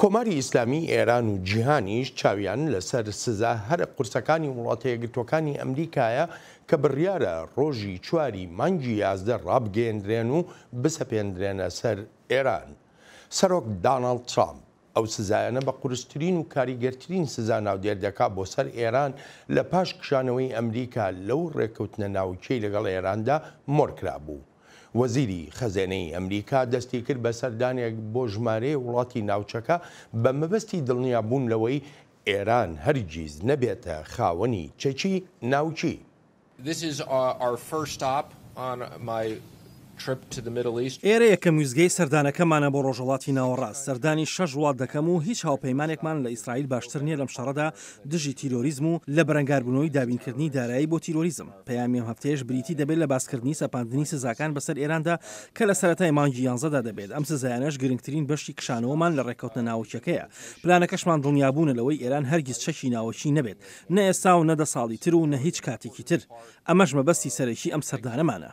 کۆماری ئیسلامی ئێران و جیهانیش چاویان لەسەر سزا هەرە قورسەکانی وڵاتە یەکگرتووەکانی ئەمریکایە کە بڕیارە ڕۆژی چواری مانگی یازدە ڕابگەیەندرێن و بسەپێندرێنە سەر ئێران. سەرۆک داناڵد ترامپ ئەو سزایانە بە قورسترین و کاریگەرترین سزا ناودێر دەکا بۆ سەر ئێران لە پاش کشانەوەی ئەمریکا لەو ڕێککەوتنە ناوکیەی لەگەڵ ئێراندا مۆرکرابوو. وەزیری خەزێنەی ئەمریکا دەستیکرد بە سەردانێک بۆ ژمارەیە وڵاتی ناوچەکە بە مەبەستی دڵنیابوون لەوەی ئێران هەرگیز نەبێتە خاوەنی چەکی ناوکی. ئێرە یەکەم ویستگەی سەردانەکەمانە بۆ ڕۆژهەڵاتی ناوەڕاست، سەردانی شەش وڵات دەکەم و هیچ هاوپەیمانێکمان لە ئیسرائیل باشتر نییە لەم شەڕەدا، دژی تیرۆریزم و لە بەرەنگاربوونەوەی دابینکردنی دارایی بۆ تیرۆریزم. پەیامی ئەم هەفتەیەش بریتی دەبێت لە باسکردنی سەپاندنی سزاکان بەسەر ئێراندا کە لە سەرەتای مانگی یانزەدا دەبێت، ئەم سزایانەش گرنگترین بەشی کشانەوەمان لە ڕێککەوتنە ناوەکییەکەیە. پلانەکەشمان دڵنیابوونە لەوەی ئێران هەرگیز چەکی ناوەکی نەبێت، نە ئێستا و نە دە ساڵی تر و نە هیچ کاتێکی تر. ئەمەش مەبەستی سەرەکی ئەم سەردانەمانە.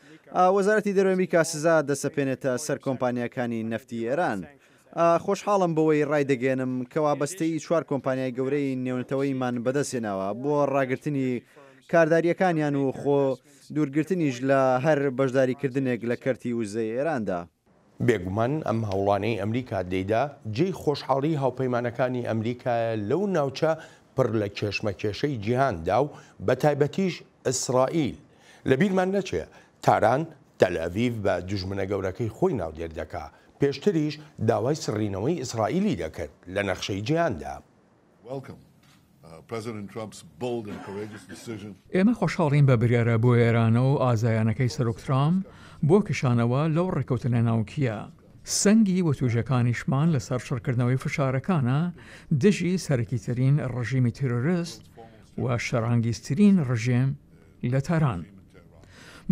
وەزارەتی دەرەوەی ئەمریکا سزا دەسەپێنێتە سەر کۆمپانیاکانی نەفتی ئێران. خۆشحاڵم بەوەی ڕایدەگەیەنم کە وابەستەیی چوار کۆمپانیای گەورەی نێونەتەوەییمان بەدەستهێناوە بۆ ڕاگرتنی کاردارییەکانیان و خۆ دوورگرتنیش لە هەر بەشداریکردنێک لە کەرتی وزەی ئێراندا. بێگومان ئەم هەوڵانەی ئەمریکا دەیدا جێی خۆشحاڵی هاوپەیمانەکانی ئەمریکایە لەو ناوچە پڕ لە کێشمەکێشەی جیهاندا و بەتایبەتیش ئیسرائیل. لە بیرمان نەچێ تاران تەلئەڤیڤ بە دوژمنە گەورەکەی خۆی ناودێر دەکا، پێشتریش داوای سڕینەوەی ئیسرائیلی دەکرد لە نەخشەی جیهاندا. ئێمە خۆشحاڵین بە بریارە بوێرانە و ئازایانەکەی سەرۆک ترامپ بۆ کشانەوە لەو ڕێککەوتنە ناوکییە، سەنگی وتووێژەکانیشمان لەسەر چڕکردنەوەی فشارەکانە دژی سەرەکیترین ڕژیمی تیرۆرست و شەرانگیزترین ڕژێم لە تاران.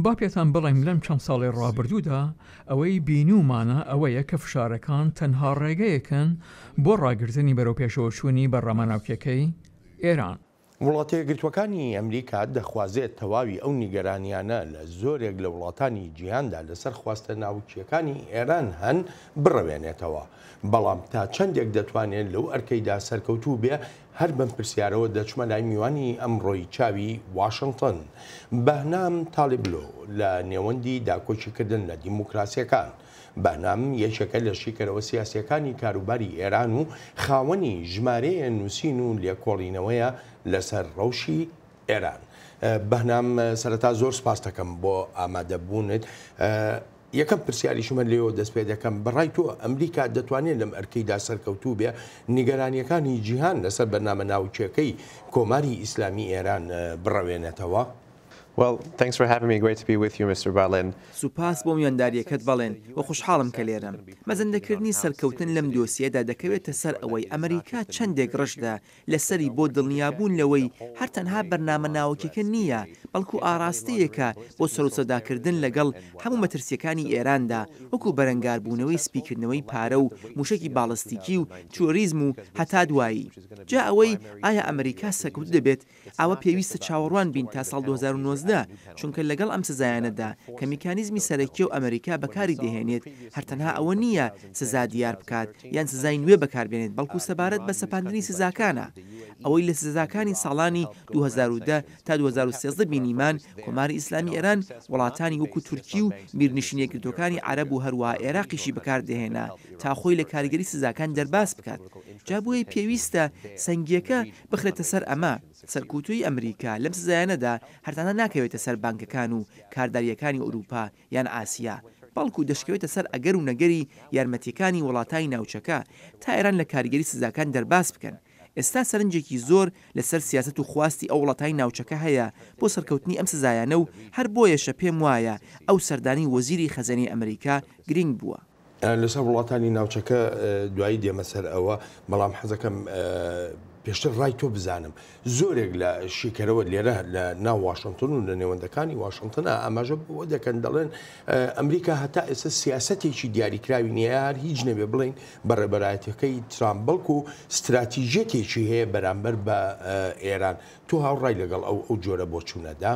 با پێتان بڵێم لەم چەند ساڵەی ڕابردوودا ئەوەی بینیومانە ئەوەیە کە فشارەکان تەنها ڕێگەیەکن بۆ ڕاگرتنی بەرەوپێشەوەچوونی بەرنامە ناوکییەکەی ئێران. وڵاتەیەکگرتووەکانی ئەمریکا دەخوازێت تەواوی ئەو نیگەرانییانە لە زۆرێک لە وڵاتانی جیهاندا لەسەر خواستە ناوکییەکانی ئێران هەن بڕەوێنێتەوە، بەڵام تا چەندێک دەتوانێت لەو ئەرکەیدا سەرکەوتوو بێ هەر بەم پرسیارەوە دەچمە لای میوانی ئەمڕۆی چاوی واشنتن، بەهنام تالیبلو، لە نێوەندی داکۆکیکردن لە دیموکراسییەکان. بەهنام یەکێکە لە شیکەرەوە سیاسییەکانی کاروباری ئێران و خاوەنی ژمارەیە نووسین و لێکۆڵینەوەیە لەسەر ڕەوشی ئێران. بەهنام سەرەتا زۆر سپاستەکەم بۆ ئامادەبوونت. یەکەم پرسیاریشم هەر لێیەوە دەست پێ دەکەم، بە ڕای تۆ ئەمریکا دەتوانێت لەم ئەرکەیدا سەرکەوتوو بێت؟ نیگەرانییەکانی جیهان لەسەر بەرنامە ناوکییەکەی کۆماری ئیسلامی ئێران بڕەوێنێتەوە؟ Well thanks for having me great to be with you Mister Balin. سوپاس بۆ میواندارییەکەت بەڵێن و خوشحاڵم کە لێرەم. مەزەندەکردنی سەرکەوتن لەم دۆسیەدا دەکەوێتە سەر ئەوەی ئەمریکا چەندێک ڕژدە لەسەری بۆ دڵنیابوون لەوەی هەر تەنها بەرنامە ناوەکیەکە نی یە، بەڵکو ئاڕاستەیەکە بۆ سەروسەوداکردن لەگەڵ هەموو مەترسیەکانی ئێراندا، وەکو بەرەنگاربوونەوەی سپیکردنەوەی پارە و موشەکی باڵستیکی و تیرۆریزم و هەتا دوایی. جا ئەوەی ئایا ئەمریکا سەرکەوتوو دەبێت، ئەوە پێویستە چاوەڕوان بین تا ساڵ دوو هەزار و نۆزدە، چونکە لەگەڵ ئەم سزایانەدا کە میکانیزمی سەرەکیەو ئەمریکا بەکاری دەهێنێت، هەر تەنها ئەوە نی یە سزا دیار بکات یان سزای نوێ بەکاربێنێت بەڵکو سەبارەت بە سەپاندنی سزاکانە، ئەوەی لە سزاکانی ساڵانی دوو هەزار و دە تا دوو هەزار و سێزدە بینیمان کۆماری ئیسلامی ئێران وڵاتانی وەکو تورکی و میرنشین یەکگرتووەکانی عەرەب و هەروەها ئێراقیشی بەکاردەهێنا تا خۆی لە کاریگەری سزاکان دەرباز بکات جا بۆیە پێویستە سەنگیەکە بخرێتە سەر ئەمە سەرکوتووی ئەمریکا لەم سزایانەدا هەر تەنها ناکەوێتە سەر بانکەکان و کاردارییەکانی ئورووپا یان ئاسیا، بەڵکو دەشکەوێتە سەر ئەگەر و نەگەری یارمەتیەکانی وڵاتانی ناوچەکە تا ئێران لە کاریگەری سزاکان دەرباز بکەن. ئێستا سەرنجێکی زۆر لە سەر سیاسەت و خواستی ئەو وڵاتانی ناوچەکە هەیە بۆ سەرکەوتنی ئەم سزایانە و هەر بۆیەشە پێم وایە ئەو سەردانەی وەزیری خەزێنەی ئەمریکا گرینگ بووە. لەسەر وڵاتانی ناوچەکە دوایی دێمە سەر ئەوە بەڵام حەزەکەم پێشتر ڕای تۆ بزانم زۆرێک لە شیکەرەوە لێرە لە ناو واشنگتن و لە نێوەندەکانی واشنگتنا ئاماژە بۆ دەکەن دەڵێن ئەمریکا هەتا ئێستا سیاسەتێکی دیاریکراوی نیە هەر هیچ نەبێ بڵین بە ڕێبەرایەتەکەی ترامپ بەڵکو و استراتیژەتێکی هەیە بەرامبەر بە ئێران تو هاوڕای لەگەڵ ئەو ئەو جۆرە بۆچوونەدا؟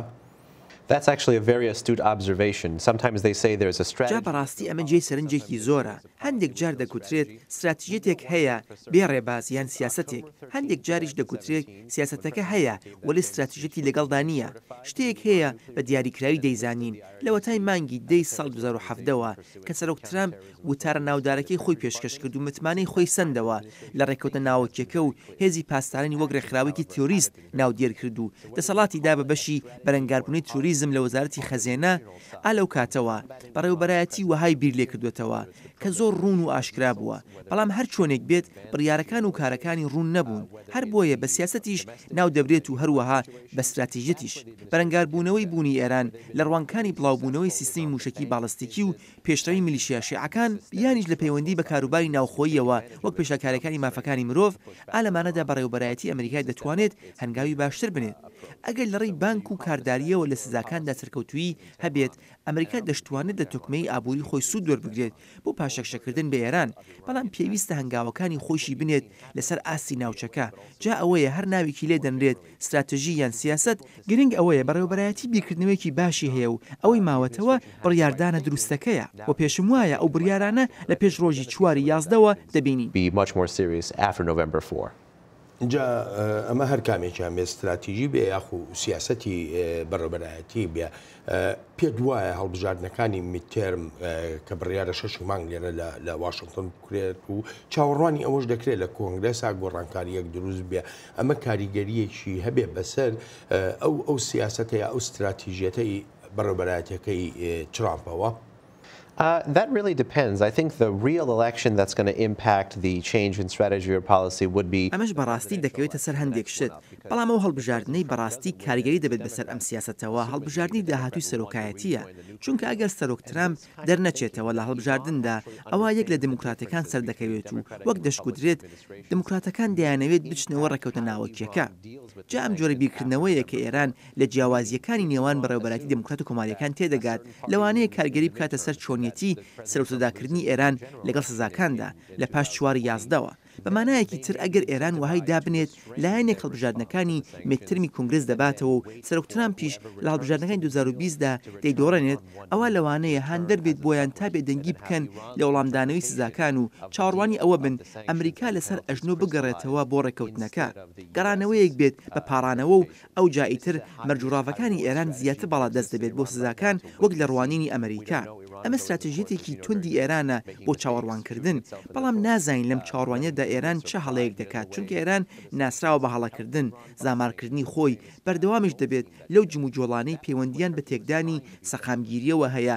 جا بەڕاستی ئەمە جێی سەرنجێکی زۆرە، هەندێک جار دەگوترێت ستراتیژیەتێک هەیە بێ ڕێباز یان سیاسەتێک، هەندێک جاریش دەگوترێت سیاسەتەکە هەیە وەلێ ستراتیژیەتی لەگەڵدا نییە، شتێک هەیە بە دیاریکراوی دەیزانین لەوەتای مانگی دە ی ساڵی دوو هەزار و حەڤدە وە کە سەرۆک ترەمپ وتارە ناودارەکەی خۆی پێشکەشکرد و متمانەی خۆی سەندەوە لە ڕێککەوتنە ناوەکیەکە و هێزی پاسدارانی وەک ڕێکخراوەیەکی تیۆریست ناودێر کرد و دەسەڵاتی دا بە بەشی بەرەنگاربوونەی ترۆریزم لە وەزارەتی خەزێنە، ئا لەو کاتەوە بەڕێوەبەرایەتی وەهای بیر لێ کردووەتەوە کە زۆر ڕوون و ئاشکرا بووە، بەڵام هەر چۆنێک بێت بڕیارەکان و کارەکانی ڕوون نەبوون، هەر بۆیە بە سیاسەتیش ناو دەبرێت و هەروەها بە ستراتیژیەتیش. بەرەنگاربوونەوەی بوونی ئێران لە ڕوانگکانی بڵاوبوونەوەی سیستمی مووشەکی باڵستیکی و پێشڕەوی میلیشیا شیعەکان، یانیش لە پەیوەندی بە کاروباری ناوخۆییەوە وەک پێشێلکارەکانی مافەکانی مرۆڤ، ئا لەمانەدا بەڕێوەبەرایەتی ئەمریکای دەتوانێت هەنگاوی باشتر بنێت. ئەگەر لە ڕێی بانک و کاردارییەوە لە سزاکاندا سەرکەوتوویی هەبێت، ئەمریکا دەشتوانێت لە تۆکمەیی ئابووری خۆی سوود وەربگرێت بۆ پاشەکشەکردن بە ئێران، بەڵام پێویستە هەنگاوەکانی خۆیشی بنێت لەسەر ئاستی ناوچەکە، جا ئەوەیە هەر ناوێکی لێ دەنرێت، ستراتژی یان سیاسەت گرنگ ئەوەیە بەڕێوەبەرایەتی بیرکردنەوەیەکی باشی هەیە و ئەوەی ماوەتەوە بڕیاردانە دروستەکەیە و پێشم وایە ئەو بڕیارانە لە پێش ڕۆژی چواری یازدەوە دەبینین. be much more serious after November four. جا ئەمە هەر کامێکیان بێت ستراتیژی بێ یاخو سیاسەتی بەڕێوەبەرایەتی بێ پێت وایە هەڵبژاردنەکانی میتێرم کە بڕیارە شش مانگ لێرە لە واشنگتن بکرێت و چاوەڕوانی ئەوەش دەکرێت لە کۆنگرێسا گۆڕانکاریەک دروست بێ ئەمە کاریگەریەکی هەبێ بەسەر ئەو ئەو سیاستەیە ئەو استراتیژیەتەی بەڕێبەرایەتەکەی ترامپەوە. ئەمەش بەڕاستی دەکەوێتە سەر هەندێک شت، بەڵام ئەو هەڵبژاردنەی بەڕاستی کاریگەری دەبێت بەسەر ئەم سیاسەتەوە هەڵبژاردنی داهاتووی سەرۆکایەتییە، چونکە ئەگەر سەرۆک ترەمپ دەرنەچێتەوە لە هەڵبژاردندا، ئەوا یەک لە دێموکراتەکان سەردەکەوێت و وەک دەشگوترێت دێموکراتەکان دەیانەوێت بچنەوە ڕێککەوتنە ناوەکییەکە. جا ئەم جۆرە بیرکردنەوەیە کە ئێران لە جیاوازییەکانی نێوان بەڕێوەبەرایەتی دێموکرات و کۆمارییەکان تێدەگات، لەوانەیە کارگێری بکاتە سەر چۆنیەتی سەرەوسەداکردنی ئێران لەگەڵ سزاکاندا لە پاش چوار یازدەوە. بە مانایەکی تر ئەگەر ئێران وەهای دابنێت لایەنێک هەڵبژاردنەکانی میدترمی کونگرس دەباتەوە و سەرۆک ترامپیش لە هەڵبژاردنەکانی دوو هەزار و بیست دا دەیدۆڕێنێت ئەوا لەوانەیە هاندەر بێت بۆیان تا بێدەنگی بکەن لە وەڵامدانەوەی سزاکان و چاوەڕوانی ئەوە بن ئەمریکا لەسەر ئەژنۆ بگەڕێتەوە بۆ ڕێککەوتنەکە گەڕانەوەیەک بێت بە پاڕانەوە و ئەوجا ئیتر مەرج و ڕاڤەکانی ئێران زیاتر باڵا دەست دەبێت بۆ سزاکان وەک لە ڕوانینی ئەمریکا. ئەمە ستراتژیەتێکی توندی ئێرانە بۆ چاوەڕوانکردن، بەڵام نازانین لەم چاوەڕوانیەدا ئێران چ هەڵەیەک دەکات چونکە ئێران ناسراوە بە هەڵەکردن، زامارکردنی خۆی، بەردەوامیش دەبێت لەو جموجۆڵانەی پەیوەندیان بە تێکدانی سەقامگیریەوە هەیە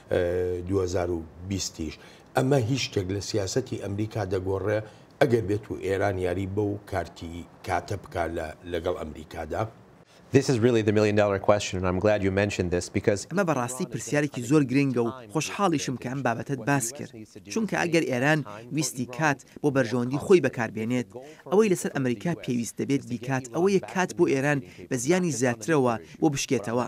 دوو هەزار و بیست یش ئەمە هیچ شتێک لە سیاسەتی ئەمریکا دەگۆڕێ ئەگەر بێت و ئێران یاری بەو کارتی کاتە بکا لە لەگەڵ ئەمریکادا. This is really the million dollar question and I'm glad you mentioned this because. ئەمە بەڕاستی پرسیارێکی زۆر گرنگە و خۆشحاڵیشم کە ئەم بابەتەت باس کرد چونکە ئەگەر ئێران ویستی کات بۆ بەرژەوەندی خۆی بەکاربێنێت، ئەوەی لەسەر ئەمریکا پێویست دەبێت بیکات ئەوەیە کات بۆ ئێران بە زیانی زیاترەوە بۆ بشکێتەوە.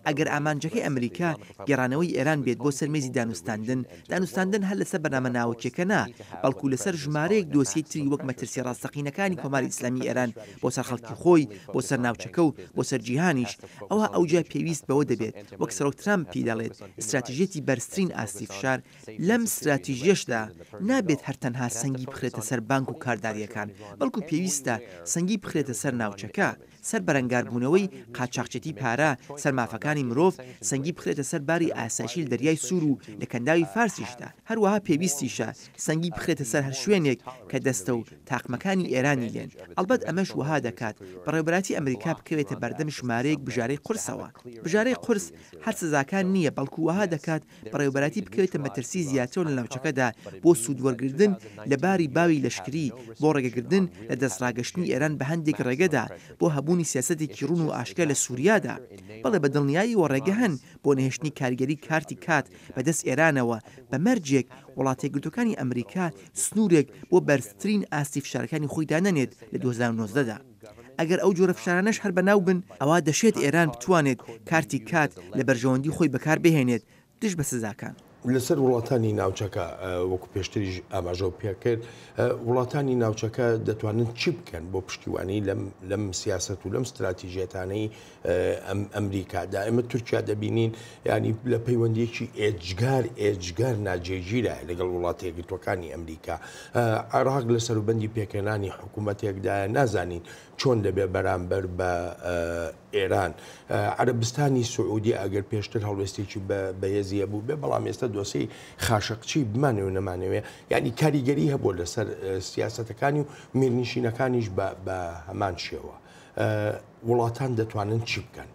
ئەگەر ئامانجەکەی ئەمریکا گێڕانەوەی ئێران بێت بۆ سەر مێزی دانوستاندن، دانوستاندن هەر لەسەر بەرنامە ناوەکییەکە نا، بەڵکو لەسەر ژمارەیەک دۆسیەی تری وەک مەترسییە ڕاستەقینەکانی کۆماری ئیسلامی ئێران بۆ سەر خەڵکی خۆی، بۆ سەر ناوچەکە و بۆ سەر جیهانیش، ئەوا ئەوجا پێویست بەوە دەبێت، وەک سەرۆک ترامپ پیدەڵێت، ئیستراتژیەتی بەرزترین ئاستی فشار لەم ستراتیژیەشدا نابێت هەر تەنها سەنگی بخرێتە سەر بانک و کارداریەکان، بەڵکو پێویستە سەنگی بخرێتە سەر ناوچەکە، سەر بەرەنگاربوونەوەی قاچاخچێتی پارە، سەر مافەکانی مرۆڤ، سەنگی بخرێتە سەر باری ئاسایشی لە دەریای سوور و لە کەنداوی فارسیشدا، هەروەها پێویستیشە سەنگی بخرێتە سەر هەر شوێنێک کە دەستە و تاقمەکانی ئێرانی لێن، ئەڵبەت ئەمەش وەها دەکات بەڕێوەبەرایەتی ئەمریکا بکەوێتە بەردەم ژمارەیەک بژارەی قورسەوە، بژارەی قورس هەر سزاکان نییە بەڵکو وەها دەکات بەڕێوەبەرایەتی بکەوێتە مەترسی زیاتر لە ناوچەکەدا بۆ سوودوەرگردن لە باری باوی لەشکری بۆ ڕێگەگردن لە دەستڕاگەشتنی ئێران بە هەندێک ڕێگەدا بۆ هەبوونی سیاسەتێکی ڕوون و ئاشکرا لە سووریادا بەڵێ بە دڵنیاییەوە ڕێگە هەن بۆ نەهێشتنی کاریگەری کارتی کات بە دەست ئێرانەوە بە مەرجێک وڵاتەیەکگرتووەکانی ئەمریکا سنوورێک بۆ بەرزترین ئاستی فشارەکانی خۆی دانەنێت لە دوو هەزار و نۆزدە دا. ئەگەر ئەو جۆرە فشارانەش هەر بەناو بن، ئەوا دەشێت ئێران بتوانێت کارتی کات لە بەرژەوەندی خۆی بەکار بهێنێت دژ بە سزاکان. لەسەر وڵاتانی ناوچەکە، وەکو پێشتریش ئاماژەم پێکرد، وڵاتانی ناوچەکە دەتوانن چی بکەن بۆ پشتیوانی لەم سیاسەت و لەم ستراتیژیەتانەی ئەمریکادا ئێمە تورکیا دەبینین ینی لە پەیوەندیەکی ئێجگار ئێجگار ناجێگیرە لەگەڵ وڵاتێکگرتوەکانی ئەمریکا عێراق لە سەروبندی پێکەێنانی حکوومەتێکدا نازانین چۆن دەبێ بەرامبەر بە ئێران عربستانی سعودی ئەگەر پێشتر هەڵوێستێکی بەهێزیە بوو بێ بەڵام ئێستا دۆسی خاشقچی بمانێ و نەمانەوێ ینی کاریگەری هەبوو لەسەر سیاستەکانی و میرنشینەکانیش بە هەمان شێوە. وڵاتان دەتوانن چی بکەن؟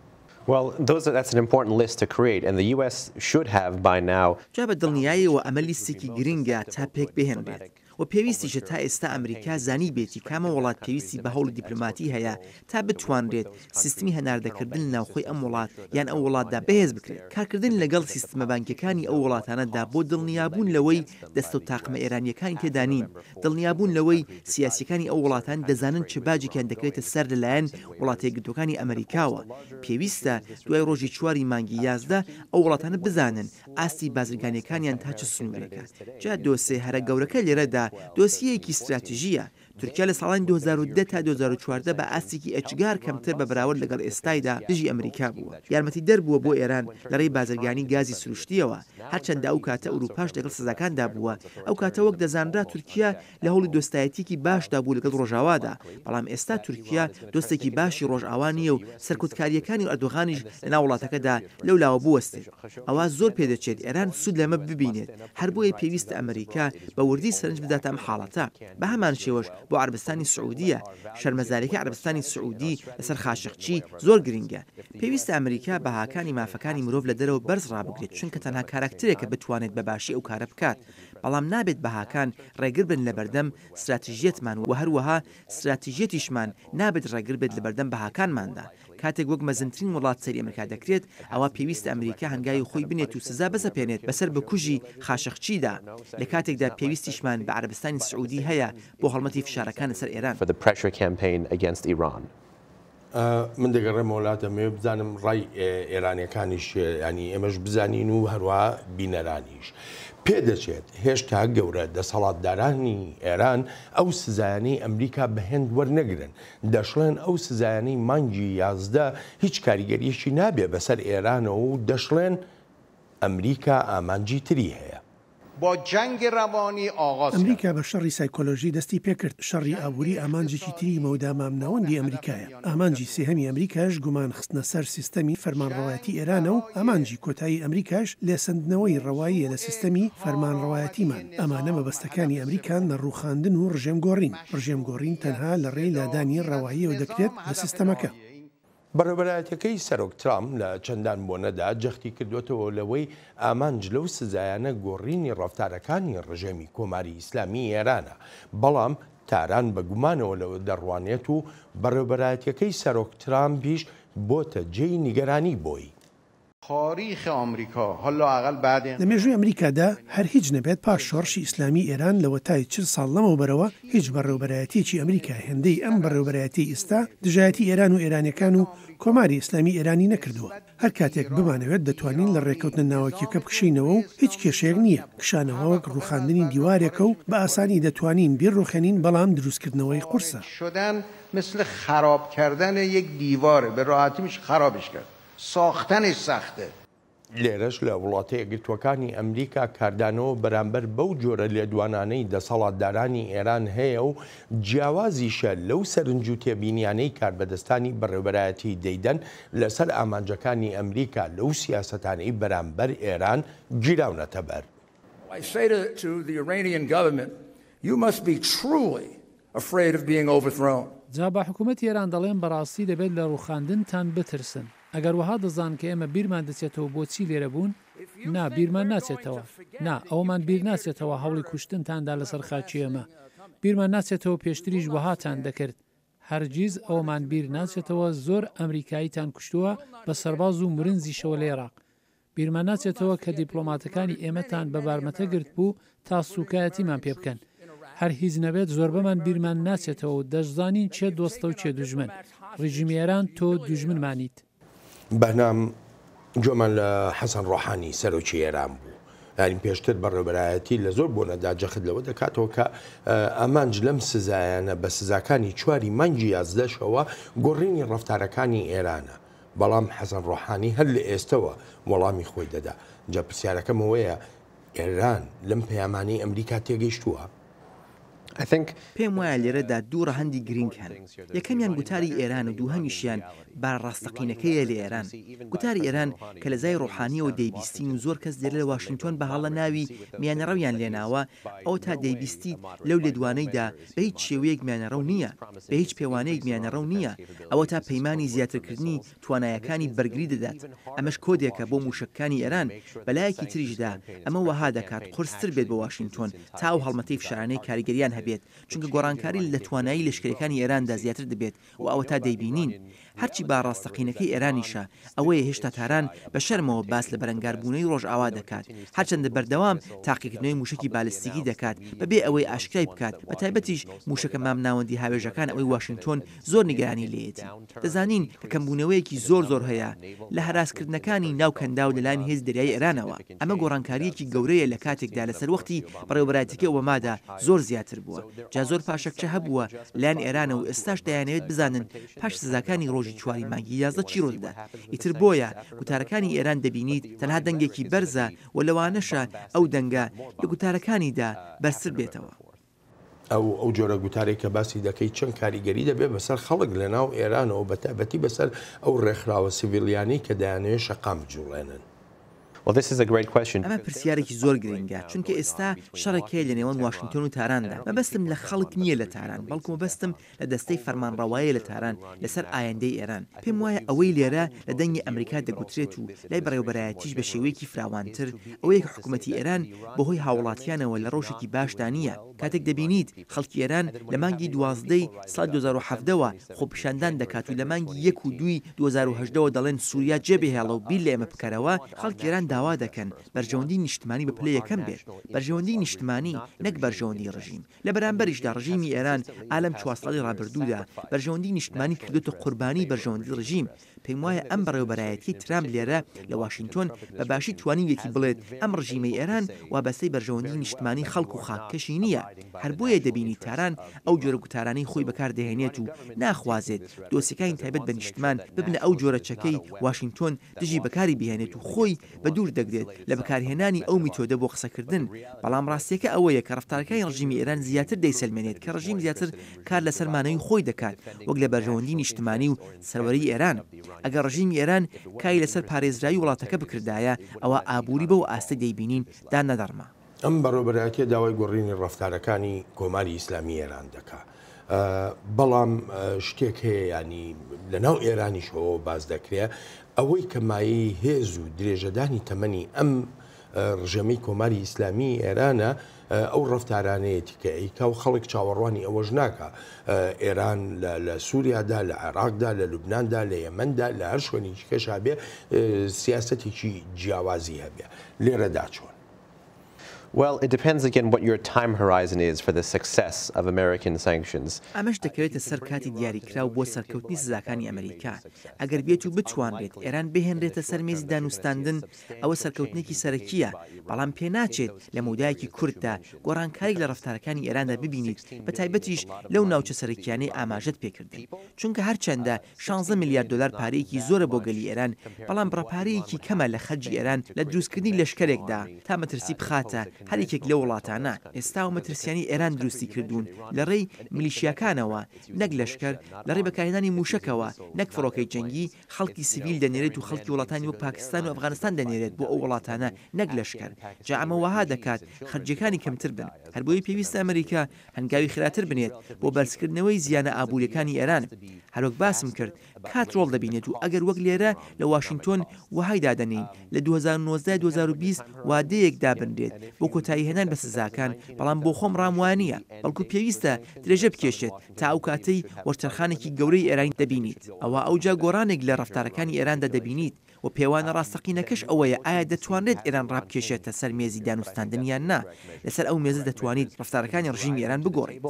Well those are that's an important list to create and the US should have by now جا بە دڵنیایەوە ئەمە لیستێکی گرنگە تا پێک بهێنرێت و پێویستیشە تا ئێستا ئەمریکا زانیبێتی کامە وڵات پێویستی بە هەوڵی دیپلۆماتی هەیە تا بتوانرێت سیستمی هەناردەکردن لە ناوخۆی ئەم وڵات یان ئەو وڵاتدا بەهێز بکرێت کارکردن لەگەڵ سیستمە بانکیەکانی ئەو وڵاتانەدا بۆ دڵنیابوون لەوەی دەستە و تاقمە ئێرانییەکانی تێدا نین، دڵنیابوون لەوەی سیاسییەکانی ئەو وڵاتان دەزانن چ باجێکیان دەکەوێتە سەر لەلایەن وڵاتە یەکگرتووەکانی ئەمەریکاوە، پێویستە دوای ڕۆژی چواری مانگی یازدە ئەو وڵاتانە بزانن ئاستی بازرگانییەکانیان تا چ سنوورێکە. جا دۆسێ هەرە گەورەکە لێرەدا دۆسیەیەکی ستراتیژییە، تورکیا لە ساڵانی دوو هەزار و دە تا دوو هەزار و چواردە بە ئاستێکی ئێجگار کەمتر بە بەراورد لەگەڵ ئێستایدا دژی ئەمریکا بووە. یارمەتیدەر بووە بۆ ئێران لە رێی بازرگانی گازی سروشتییەوە. هەرچەندە ئەو کاتە ئورووپاش لەگەڵ سزاکاندا بووە. ئەو کاتە وەک دەزانرا تورکیا لە هەوڵی دۆستایەتییەکی باشدا بوو لەگەڵ رۆژاوادا. بەڵام ئێستا تورکیا دۆستێکی باشی رۆژاوا نییە و سەرکوتکارییەکانی ئەردۆغانیش لەناو وڵاتەکەدا لەولاوە بوەستێت. ئەوا زۆر پێدەچێت ئێران سوود لەمە ببینێت، هەر بۆیە پێویستە ئەمریکا بە وردی سەرنج بداتە ئەم حاڵەتە. بە هەمان شێوەش بۆ عەرەبستانی سعوودیە، شەرمەزارییەکەی عەرەبستانی سعوودی لەسەر خاشقچی زۆر گرینگە. پێویستە ئەمریکا بەهاکانی مافەکانی مرۆڤ لە دەرەوە بەرز ڕابگرێت، چونکە تەنها کاراکترێکە بتوانێت بە باشی ئەو کارە بکات، بەڵام نابێت بەهاکان ڕێگر بن لە بەردەم ستراتژیەتمان و هەروەها ستراتژیەتیشمان نابێت ڕێگر بێت لە بەردەم بەهاکانماندا. کاتێک وەک مەزنترین وڵات سەیری ئەمریکا دەکرێت، ئەوا پێویستە ئەمریکا هەنگاوی خۆی بنێت و سزا بسەپێنێت بەسەر بکوژی خاشقچیدا، لە کاتێکدا پێویستیشمان بە عەرەبستانی سعودی هەیە بۆ هەڵمەتی فشارەکان لەسەر ئێران. من دەگەڕێمەوە وڵات، دەمەوێت بزانم ڕای ئێرانیەکانیش چیە، یانی ئێمەش بزانین و هەروەها بینەرانیش. پێدەچێت هێشتا گەورە دەسەڵاتدارانی ئێران ئەو سزایانەی ئەمریکا بە هێند وەرنەگرن، دەشڵێن ئەو سزایانەی مانگی یازدە هیچ کاریگەرییەکی نابێت بەسەر ئێرانەوە و دەشڵێن ئەمریکا ئامانجی تری هەیە. با جنگ روانی آغاز کن. ئەمریکا بە شەڕی سایکۆلۆژی دەستی پێکرد، شەڕی ئابووری ئامانجێکی تری مەودا مامناوەندی ئەمریکایە، ئامانجی سێهەمی ئەمریکاش گومان خستنە سەر سیستەمی فەرمانڕەوایەتی ئێرانە و ئامانجی کۆتایی ئەمریکاش لێسەندنەوەی ڕەواییە لە سیستەمی فەرمانڕەوایەتیمان، ئەمانە مەبەستەکانی ئەمریکان لە ڕووخاندن و ڕژێمگۆڕین. ڕژێمگۆڕین تەنها لە ڕێی لادانی ڕەواییەوە دەکرێت لە سیستەمەکە. بەڕێوەبەرایەتیەکەی سەرۆک ترامپ لە چەندان بۆنەدا جەختی کردۆتەوە لەوەی ئامانج لەو سزایانە گۆڕینی ڕەفتارەکانی ڕژێمی کۆماری ئیسلامیی ئێرانە، بەڵام تاران بە گومانەوە لەوە دەڕوانێت و بەڕێوەبەرایەتیەکەی سەرۆک ترامپیش بۆتە جێی نیگەرانی بۆی. تاریخ ئامریکا هە لا ئە قل بە دێ. لە مێژووی ئەمریکادا هەر هیچ نەبێت پاش شۆڕشی ئیسلامیی ئێران لەوەتای چل ساڵ لەمەوبەرەوە هیچ بەڕێوبەرایەتیەکی ئەمریکا هێندەی ئەم بەڕێوبەرایەتیەی ئیستا دژایەتی ئێران و ئێرانیەکان و کۆماری ئیسلامیی ئێرانی نەکردووە هەر کاتێک بمانەوێت دەتوانین لە ڕێکەوتنە ناوەکیەکە بکشێینەوە و هیچ کێشەیەک نییە کشانەوە وەک ڕوخاندنی دیوارێکە و بە ئاسانی دەتوانین بیڕوخێنین بەڵام دروستکردنەوەی قورسە. ساختەنی ساختە. لێرەش لە وڵاتە یەکگرتووەکانی ئەمریکا کاردانەوە بەرامبەر بەو جۆرە لێدوانانەی دەسەڵاتدارانی ئێران هەیە و جیاوازیشە لەو سەرنج و تێبینیانەی کاربەدەستانی بەڕێوەبەرایەتی دەیدەن لەسەر ئامانجەکانی ئەمریکا لەو سیاسەتانەی بەرامبەر ئێران گیراونەتەبەر. afraid of being overthrown. جا بە حکومەتی ئێران دەڵێم بەڕاستی دەبێت لە ڕووخاندنتان بترسن. ئەگەر وەها دەزان کە ئێمە بیرمان دەچێتەوە بۆچی لێرە بوون؟ نا، بیرمان ناچێتەوە. نا، ئەوەمان بیر ناچێتەوە هەوڵی کوشتنتان دا لەسەر خاکی ئێمە. بیرمان ناچێتەوە پێشتریش وەهاتان دەکرد. هەرگیز ئەوەمان بیر ناچێتەوە زۆر ئەمریکاییتان کوشتووە بە سەرباز و مرنجیشەوە لە ئێراق. بیرمان ناچێتەوە کە دیپڵۆماتەکانی ئێمەتان بە بارمەتە گرتبوو تا سووکایەتیمان پێ بکەن. هەر هیچ نەبێت زۆربەمان بیرمان ناچێتەوە و دەشزانین کێ دۆستە و کێ دوژمن. ڕیژیمی ئێران تۆ دوژمنمانیت. بەهنام گوێمان لە حەسەن ڕۆحانی سەرۆکی ئێران بوو یانی پێشتر بەڕێوەبەرایەتی لە زۆر بۆنەدا جەخت لەوە دەکاتەوە کە ئامانج لەم سزایانە بە سزاکانی چواری مانگی یازدەشەوە گۆڕینی ڕەفتارەکانی ئێرانە. بەڵام حەسەن ڕۆحانی هەر لە ئێستەوە وەڵامی خۆی دەدا. جا پرسیارەکەم ئەوەیە ئێران لەم پەیامانەی ئەمریکا تێگەیشتووە؟ پێم وایە لێرەدا دوو ڕەهەندی گرینگ هەن. یەکەمیان گوتاری ئێران و دووهەمیشیان بارە ڕاستەقینەکەیە لە ئێران. گوتاری ئێران کە لە زای ڕۆحانییەوە دەیبیستین و زۆر کەس لێرە لە واشینگتۆن بە هەڵە ناوی میانەڕەویان لێناوە، ئەوەتا دەیبیستیت لەو لێدوانەیدا بە هیچ شێوەیەک میانەڕەو نییە، بە هیچ پێوانەیەک میانەڕەو نییە، ئەوەتا پەیمانی زیاترکردنی توانایەکانی بەرگری دەدات، ئەمەش کۆدێکە بۆ مووشەکەکانی ئێران، بەلایەکی تریشدا ئەمە وەها دەکات قورستر بێت بۆ واشینتۆن تا ئەو هەڵمەتەی فشارانەی کاریگەریان هەبێت، چونکە گۆڕانکاری لە توانایی لەشکریەکانی ئێراندا زیاتر دەبێت و ئەوەتا دەیبینین هەرچی با ڕاستەقینەکەی ئێرانیشە ئەوەیە هێشتا تاران بە شەرمەوە باس لە بەرەنگاربوونەوەی ڕۆژئاوا دەکات هەرچەندە بەردەوام تاقیکردنەوەی مووشەکی بالستیکی دەکات بەبێ ئەوەی ئاشکرای بکات بە تایبەتیش مووشەکە مامناوەندی هاوێژەکان ئەوەی واشینتۆن زۆر نیگەرانی لێیەتی دەزانین کە کەمبوونەوەیەکی زۆر زۆر هەیە لە هەراسکردنەکانی ناو کەنداو لەلایەن هێزی دەریایی ئێرانەوە. ئەمە گۆڕانکارییەکی گەورەیە لە کاتێکدا لە سەروەختی بەڕێوەبەرایەتیی ئۆبامادا زۆر زیاتر بووە، جا زۆر پاشەکچە هەبووە لەلایەن ئێرانەوە و ئێستاش دەیانەوێت بزانن پاش سزاکانی ڕۆژی چواری مانگی یازدە چی ڕوو دەدات، ئیتر بۆیە گوتارەکانی ئێران دەبینیت تەنها دەنگێکی بەرزە و لەوانەشە ئەو دەنگە لە گوتارەکانیدا بەرزتر بێتەوە. ئەو ئەو جۆرە گوتارێک کە باسی دەکەی چەند کاریگەری دەبێت بەسەر خەڵک لە ناو ئێرانەوە بە تایبەتی بەسەر ئەو ڕێکخراوە سڤیلیانەی کە دەیانەوێت شەقام بجوڵێنن؟ ئەمە پرسیارێکی زۆر گرنگە، چونکە ئێستا شەڕێک هەیە لە نێوان واشنتۆن و تاراندا، مەبەستم لە خەڵک نییە لە تاران، بەڵکو مەبەستم لە دەستەی فەرمانڕەوایی لە تاران لەسەر ئایندەی ئێران. پێم وایە ئەوەی لێرە لە دەنگی ئەمریکا دەگوترێت و لای بەڕێوەبەرایەتیش بە شێوەیەکی فراوانتر ئەوەیە کە حکوومەتی ئێران بە هۆی هاووڵاتییانەوە لە ڕەوشێکی باشدا نییە. کاتێک دەبینیت خەڵکی ئێران لە مانگی دوازدە ی ساڵی دوو هەزار و حەڤدە وە خۆپیشاندان دەکات و لە مانگی یەک و دوو ی دوو هەزار و هەژدە وە دەڵێن سووریا جێبهێڵە و بیر لە ئێمە بکەرەوە، خەڵکی ئێران داوا دەکەن بەرژەوەندیی نیشتمانی بە پلەی یەکەم بێت، بەرژەوەندیی نیشتمانی نەک بەرژەوەندیی ڕژیم. لە بەرامبەریشدا ڕژیمی ئێران ئا لەم چوار ساڵی ڕابردوودا بەرژەوەندی نیشتمانی کردۆتە قوربانی بەرژەوەندی ڕژیم. پێم وایە ئەم بەڕێوەبەرایەتیەی ترامپ لێرە لە واشینتۆن بە باشی توانیویەتی بڵێت ئەم ڕژیمەی ئێران وابەستەی بەرژەوەندی نیشتمانی خەڵک و خاککەشی نییە. هەر بۆیە دەبینی تاران ئەو جۆرە گوتارانەی خۆی بەکار دەهێنێت و ناخوازێت دۆسیەکانی تایبەت بە نیشتمان ببنە ئەو جۆرە چەکەی واشینتۆن دژی بەکاری بهێنێت و خۆی بە دوور دەگرێت لە بەکارهێنانی ئەو میتۆدە بۆ قسەکردن، بەڵام ڕاستییەکە ئەوەیە کە ڕەفتارەکانی ڕژیمی ئێران زیاتر دەیسەلمێنێت کە ڕژیم زیاتر کار لەسەر مانەوەی خۆی دەکات وەک لە بەرژەوەندی نیشتمانی و سەروەریی ئێران. ئەگەر ڕژیمی ئێران کاری لەسەر پارێزراوی وڵاتەکە بکردایە، ئەوا ئابووری بەو ئاستەی دەیبینین دا نەدەڕما. ئەم بەڕێوەبەرایەتیە داوای گۆڕینی ڕفتارەکانی کۆماری ئیسلامی ئێران دەکا بەڵام شتێک هەیە ینی لە ناو ئێرانیشەوە باز دەکرێ ئەوەی کەمایی هێز و درێژەدانی تەمەنی ئەم ڕژێمی کۆماری ئیسلامی ئێرانە ئەو ڕفتارانەیەتی کە ئەیکا و خەڵک چاوەڕوانی ئەوەش ناکە ئێران لە سووریادا لە عێراقدا لە لوبنااندا لە یەمەندا لە هەر شوێنی کەشابێ سیاستێکی جیاوازی هەبێ لێرەدا چۆن Well it depends again what your time horizon is for the success of American sanctions. ئەمەش دەکەوێتە سەر کاتی دیاریکراو بۆ سەرکەوتنی سزاکانی ئەمریکا. ئەگەر بێت و بتوانرێت ئێران بهێنرێتە سەر مێزی دانوستاندن، ئەوە سەرکەوتنێکی سەرەکییە، بەڵام پێناچێت لە مەودایەکی کورتدا گۆڕانکارییەک لە ڕەفتارەکانی ئێراندا ببینیت، بەتایبەتیش لەو ناوچە سەرەکییانەی ئاماژەت پێکردن، چونکە هەرچەندە شانزە ملیار دۆلار پارەیەکی زۆرە بۆ گەلی ئێران، بەڵام بڕە پارەیەکی کەمە لە خەرجی ئێران لە دروستکردنی لەشکەرێکدا تا مەترسی بخاتە هەر یەکێک لەو وڵاتانە. ئێستا ئەو مەترسییانەی ئێران دروستی کردوون لە ڕێی ملیشیاکانەوە نەک لەشکەر، لە ڕێی بەکارهێنانی مووشەکەوە نەک فڕۆکەی جەنگی، خەڵکی سڤیل دەنێرێت و خەڵکی وڵاتانی وەک پاکستان و ئەفغانستان دەنێرێت بۆ ئەو وڵاتانە نەک لەشکەر. جا ئەمە وەها دەکات خەرجییەکانی کەمتر بن. هەر بۆیە پێویستە ئەمریکا هەنگاوی خراتر بنێت بۆ بەرزکردنەوەی زیانە ئابووریەکانی ئێران. هەروەک باسم کرد کات ڕۆڵ دەبینێت و ئەگەر وەک لێرە لە واشینتۆن وەهای دادەنێین لە دوو هەزار و نۆزدە دوو هەزار و بیست وادەیەک دابنرێت بۆ کۆتایی هێنان بە سزاکان بەڵام بۆ خۆم ڕام وانیە بەڵکو پێویستە درێژە بکێشێت تا ئەو کاتەی وەرچەرخانێکی گەورەی ئێرانی دەبینیت ئەوا ئەوجا گۆڕانێک لە ڕەفتارەکانی ئێراندا دەبینیت و پێوانە ڕاستەقینەکەش ئەوەیە ئایا دەتوانرێت ئێران ڕابکێشێتە سەر مێزی دانوستاندن یان نا، لەسەر ئەو مێزە دەتوانیت ڕەفتارەکانی ڕژیمی ئێران بگۆڕیت.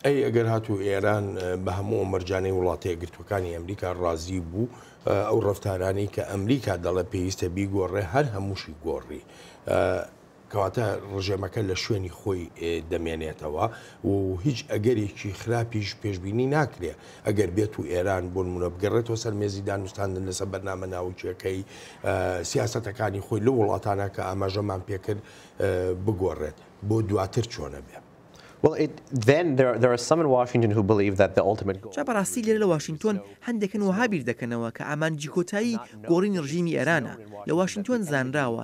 ئەی ئەگەر هاتوو ئێران بە هەموو ئەو مەرجانەی وڵاتە یەکگرتووەکانی ئەمریکا ڕازی بوو، ئەو ڕەفتارانەی کە ئەمریکا دەڵێت پێویستە بیگۆڕێت هەر هەمووشی گۆڕی، کەواتە ڕژێمەکە لە شوێنی خۆی دەمێنێتەوە و هیچ ئەگەرێکی خراپیش پێشببینی ناکرێ ئەگەر بێت و ئێران بۆ نمونە بگەڕێتەوە سەر مێزی دانوستاندن لەسەر بەرنامە ناوکیەکەی سیاستەکانی خۆی لە وڵاتانە کە ئاماژەمان پێکرد بگۆڕێت بۆ دواتر چۆنە بێ. جا بەڕاستی لێرە لە واشنتۆن هەندێکن وەها بیر دەکەنەوە کە ئامانجی کۆتایی گۆڕینی ڕژیمی ئێرانە، لە واشنتۆن زانراوە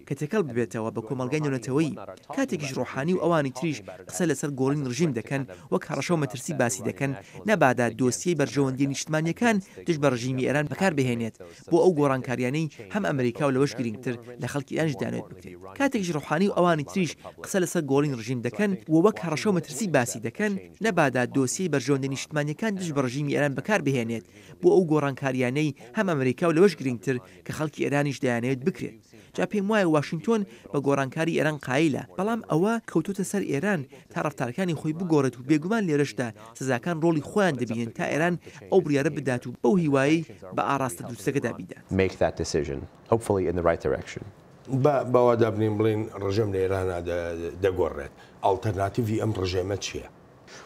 کە تێکەڵ ببێتەوە بە کۆمەڵگای نێونەتەوەیی، کاتێکیش ڕۆحانی و ئەوانی تریش قسە لەسەر گۆڕین ڕژیم دەکەن، وەک هەڕەشە و مەترسی باسی دەکەن، نەبادا دۆسیەی بەرژەوەندییە نیشتمانییەکان دژ بە ڕژیمی ئێران بەکار بهێنێت بۆ ئەو گۆڕانکارییانەی هەم ئەمریکا و لەوەش گرینگتر لە خەڵکی ئێرانیش دەیانەوێت بکرێت، کاتێکیش ڕۆحانی و ئەوانی تریش قسە لەسەر گۆڕین ڕژیم دەکەن و وەک هەڕەشە و مەترسی باسی دەکەن، نەبادا دۆسیەی بەرژەوەندییە نیشتمانییەکان دژ بە ڕژیمی ئێران بەکار بهێنێت بۆ ئەو گۆڕانکارییانەی هەم ئەمریکا و لەوەش گرینگتر کە خەڵکی ئێرانیش دەیانەوێت بکرێت. جا پێم وایە واشینتۆن بە گۆڕانکاری ئێران قایلە، بەڵام ئەوە کەوتۆتە سەر ئێران تا ڕەفتارەکانی خۆی بگۆڕێت و بێگومان لێرەشدا سزاکان ڕۆڵی خۆیان دەبینن تا ئێران ئەو بڕیارە بدات و بەو هیوایەی بە ئاڕاستە دروستەکەدا بیدات. make that decision hopefully in the right direction. با باوادابنێین بڵێین ڕژێم لە ئێرانا دەگۆڕێت، ئاڵتەرناتیڤی ئەم ڕژێمە چییە؟